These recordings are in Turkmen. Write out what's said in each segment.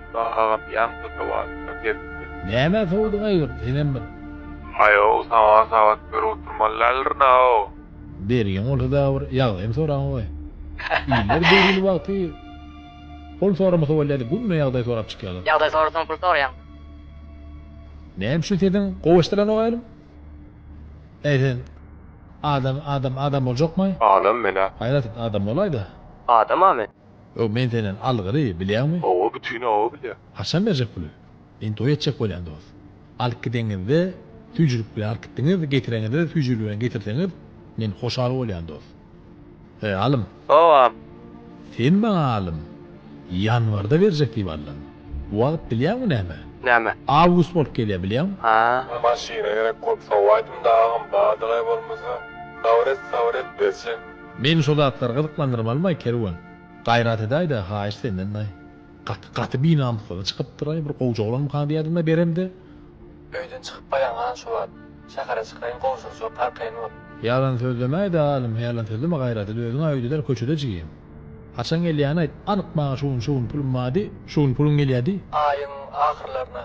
Musa agam ýaňky sowalymda gepdi. Nämä sowdyň aýgyr senem bir. Aýow sowal sabat bir oturmaly däldirnaw. Bergiň bolsa dagy bir ýagdaýymy soraň goý. Iller döwrüni wagty pul soramasa bolýady günde ýagdaý sorap çykýalar. Ýagdaý sorasaň pul soraýaňmy. Näme üçin sesiň gowy eşdilenok aýlym. Äý sen adam adam adam boljakmy. Adam men-ä. Haýrat adam bolaýda. Adam-a men. Ýok men senden algyry bilýäňmi. Hawa bütin oba bilýär. Haçan berjek puly? Men toý etjek bolýan dos. Alyp gideňizde süýjülik bilen alyp gitdiňiz, getireňizde-de süýjülik bilen getirseňiz men hoşal bolýan dos. He alym. Howam. Sen maňa alym. Ýanwarda berjek diýip aldym. Bu wagt bilýäňmi näme. Näme. Awgust bolup gelýär bilýäňmi. Haa. Maşyna gerek bolup sowaýdym-da agam badygaý bolmasa. Nawret, nawret berjek. Meni şo zatlar gyzyklandyrmalymaý Kerwen. Gaýrat edäýdä haýyş senden daýy. Gaty gaty binamyslaly çykypdyraý bir gowja oglanmyka diýädimde beremde. Öýden çykyp baýaň han şu wagt. Şähere çykaýyň gowşury şo parkaýyn bol. Ýalan sözlemäýdä halym ýalan sözleme gaýrat edip özüňä öýdüler köçede jigim. Haçan gelýäni aýt anyk maňa şu gün şu gün pulum bardy şu gün pulum gelýädi. Aýyň ahyrlaryna.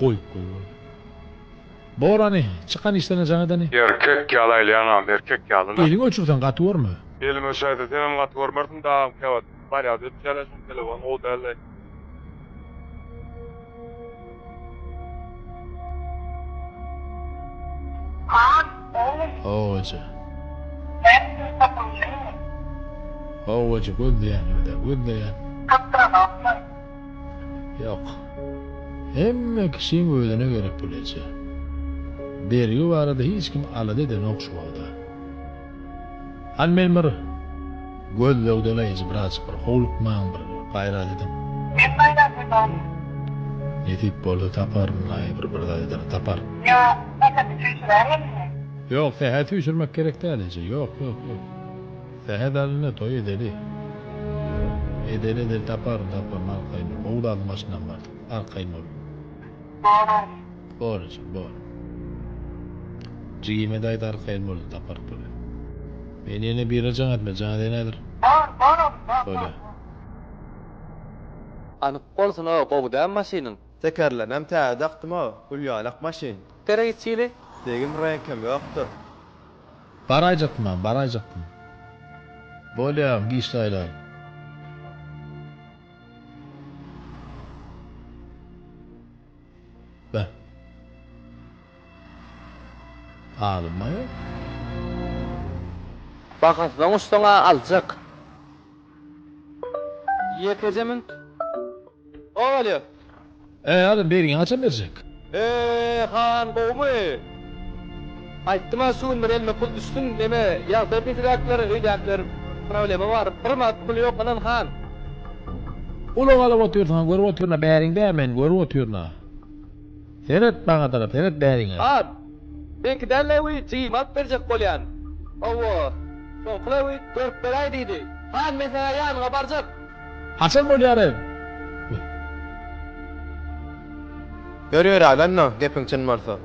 Goýup goý boldy. Borany, çykan işlerine jaň edeni. Erkek ýaly aýlaýaň agam, erkek ýaly-la. Eliňi öçürseň gaty görme. Eliňi öçürseň senem gaty görmersiň dagam käwagt. Barýas öçýäs-ä şuny telefon gowy dälleý. Haýt, oglum! Howajy. Sen pul tapyjymy? Howajy gözleýänimde gözleýän. Tapdyraňokmy? Ýok. Hemme kişiň özüne gerek pul eje. Bergi barada hiç kim alada edenok şu wagta. Hany meni bir gözlegdeleýji birazjyk bir howlukmaň bir gaýrat ediň. Men gaýrat edaýyn. Nesip bolsa taparyn laý bir bir zat ederin tapar. Ýa sähedi süýşürär elini. Ýok sähedi süýşürmek gerek däl eje ýok ýok ýok. Sähet alynda toý edeli. Edeli edeli taparyn taparyn arkaýyn dur gowy zadyň başyndan bardyk arkaýyn bol. Bor. Bor ejem, bor. Jigime daýza arkaýyn boldy, taparyk bolýar. Men ýene bire jaň etme, jaň edýän häzir. Bor, bor ogul, bor, bor, bor. Anyk bolsun-a, gowy dä maşynyň? Tekerlemem täze dakdym-a, gül ýalak maşyn. Tere içeli. Degim reňkem ýokdur. Baraýjakdym-a, baraýjakdym. Bolýa, giçli aýlaly. Be. Almaýar. Bahasyna goşsaň-a aljak. Ýekeje münt. Owalyýo. Äý adam bergiňi haçan berjek. Eee han gowumy. Aýtdym-a şu günler elime pul düşsün neme ýag berdijiräkler öýdäkiler problema bar bir manat puly ýok ynan han. Ulag alyp otyrsyňa görüp otyrna bäriň dä men görüp otyrna. Seret bagadara seret bäriňe. At! Meňki däl Lewi, jigime at berjek bolýan. Hawa, soňky Lewi görüp beräý diýdi. Han men saňa ýanyňa barjak. Haçan bolýar eý? Ýör ýöräý bändä, gepiň çyn bolsa.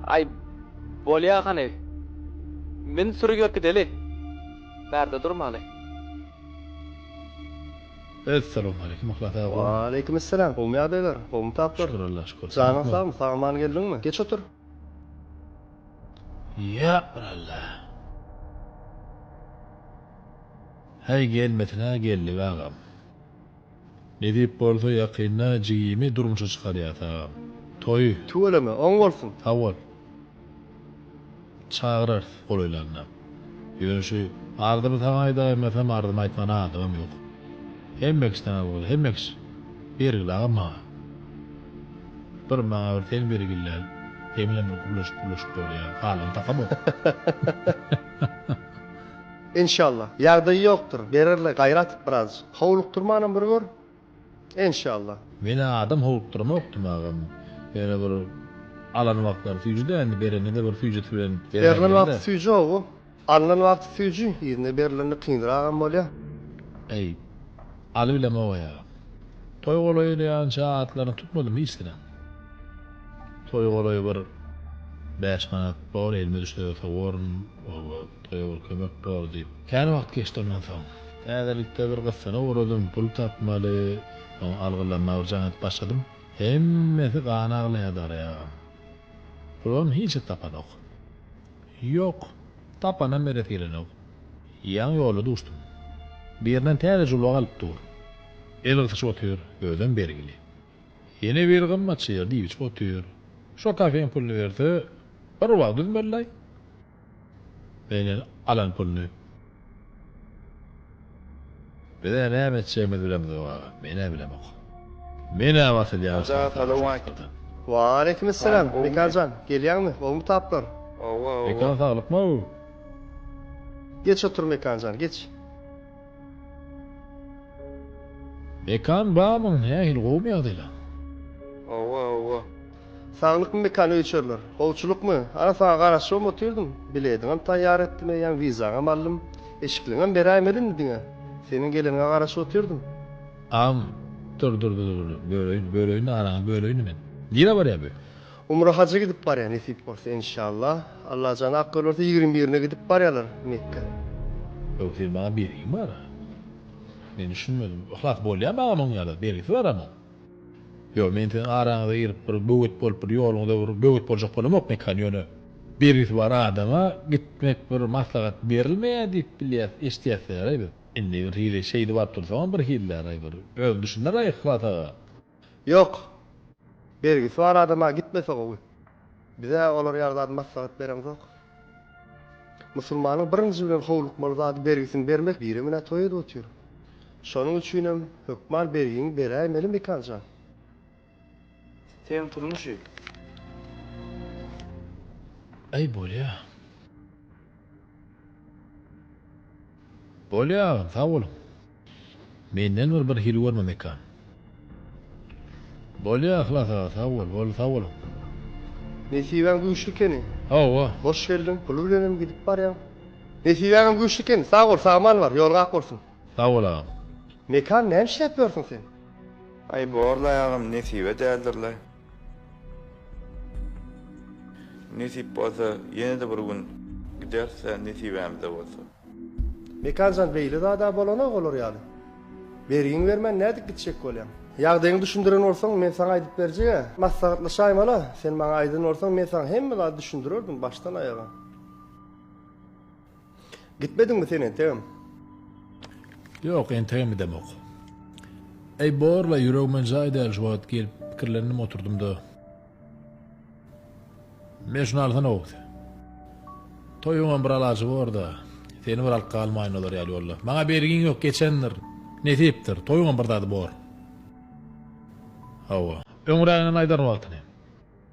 Aý, bolýa hany. Min sürüp ýörki deli. Bärde durmaly. Essalawmaleýkim Yhlas aga gowmy. Waleýkim essalam gowmy ýagdaýlar gowmy taplar. Şükür Allaha şükür sen Janyň sagmy sagaman geldiňmi geç otur. Ýok bir Alla. Heý gelmesinä geldik agam. Nesip bolsa ýakynda jigimi durmuşa çykarýas agam. Toýy. Tüweleme oň bolsun. Sag bol. Çagyrarys golaýlanda. Ýöne şu arzymy saňa aýdaýmasam, arzymy aýtmana adamym ýok. Hemmekiş saňa boldy, hemmekiş. Bergil agam maňa. Bir maňa bir sen bergilde, sen bilen bir gürleşip-gürleşip bolýa. Galany takamok. Enşalla. Ýagdaýy ýokdur. Bererler, gaýra atyp birazjyk. Howlukdyrmanam bir gör. Enşallah. Meni adam howukdyramokdym agam ýöne bir alan wagtlary süýji dändi berenide bir süýjisi bilen Berlen wagty süýji owo alnan wagty süýji yzyna berlende kynragam bolýa. Eý Aly bilen Bobaý agam. Toý golaýy diýýänçä atlaryny tutmadym hiç diňem. Toý golaýy bir bäş manat bor elime düşse ýogsa gorun owo. Goý bir kömek bor diýip. Kän wagt geçdi ondan soň. Täzelikde bir gyssana ugradym. Pul tapmaly, oňa algylaryny alyjagam edip başladym. Hemmesi gan aglaýar Daryýa agam. Pulum hiç zat tapanok. Ýok, tapanam beresi gelenok. Ýaňy ýolda duşdum. Birden täze julba galyp dur. El gysyşyp otyr, özem bergili. Ýene biri gymmat şeýle diýip içip otyr. Şo kafeň puluny berse, bir wagt üzmeli-laý. Menden alan puluny bize näme etjegimizi bilemizok aga, men-ä bilemok. Men-ä basylýan şartnama şatdyrda. Wa aleýkimessalam, Mekan jan, gelýäňmi, gowumy taplar? Mekan saglykmy? Geç otur Mekan jan, geç. Mekan barmyň, nähili, gowumy ýagdaýlaň? Saglykmy mekany öýçerler. Howçulykmy? Ana saňa garaşybam otyrdym. Bilediňem taýýar etdim eýýäm, wizaňam aldym. Eşikliňem beräýmeli indi diňe. Seniň geleniňe garaşyp otyrdym. Agam, dur, dur, dur, dur, böleýin, böleýin-de, araňy böleýin-de men. Nirä barýa bu? Umra haja gidip barýa, nesip bolsa, enşalla. Allajan ak ýol berse, ýigrimi birine gidip barýarlar Mekgä. Ýok, sen maňa bergiň bar. Men düşünmedim. Yhlas bolýamy agam oň ýa-da? Bergisi baramyň? Ýok, men siziň araňyza girip bir böwet bolup bir ýoluňyza bir böwet boljak bolamok mekan, ýöne bergisi bar adama gitmek bir maslahat berilmeýär diýip bilýäs, eşidýäsdäraý biz. Indi bir hili şeýdip alyp dursaňam bir hilläraý bir özüň düşüneraý Yhlas aga. Ýok, bergisi bar adama gitmese gowy. Bize olar ýaly zady maslahat bereňzok. Musulmanyň birinji bilen howlukmaly zady bergisini bermek biri menä toý edip otyr. Şonuň üçinem hökman bergiňi beräýmeli Mekan jan. Sen turmuşy. Aý bolýa. Bolýa agam sag boluň. Menden bir bir hili görme mekan. Bolýa Yhlas aga sag bol bol sag boluň. Nesibäň güýçli keni. Hawa. Hoş geldiň puly bilenem gidip barýaň. Nesibäňem güýçli keni sag bol sagmany bar ýoluň ak bolsun. Sag bol agam. Mekan näme işläp ýörsüň sen. Aý borlaý agam nesibe däldirlaý. Nesip bolsa ýene-de bir gün gideris-dä nesibämizde bolsa. Mekanjan beýle zada bolanok olar ýaly. Bergiňi bermän nädip gitjek bolýaň. Ýagdaýyňy düşündiren bolsaň men saňa aýdyp berjeg-ä. Maslahatlaşaýmala. Sen maňa aýdan bolsaň men saňa hemme zady düşündirerdim başdan aýaga. Gitmediňmi sen entegem? Ýok, entegem gidemok. Eý, borla, ýüregime jaý däl şu wagt gelip pikirlendim oturdym-da. Men şuny alsana Oguz. Toýuňam bir alajy bor-da, seni bir alyp galmaýyn olar ýaly ýolda. Maňa bergiň ýok, geçendir. Nesipdir, toýuňam bir zady bor. Hawa. Öňräginem aýdaryn wagtyny.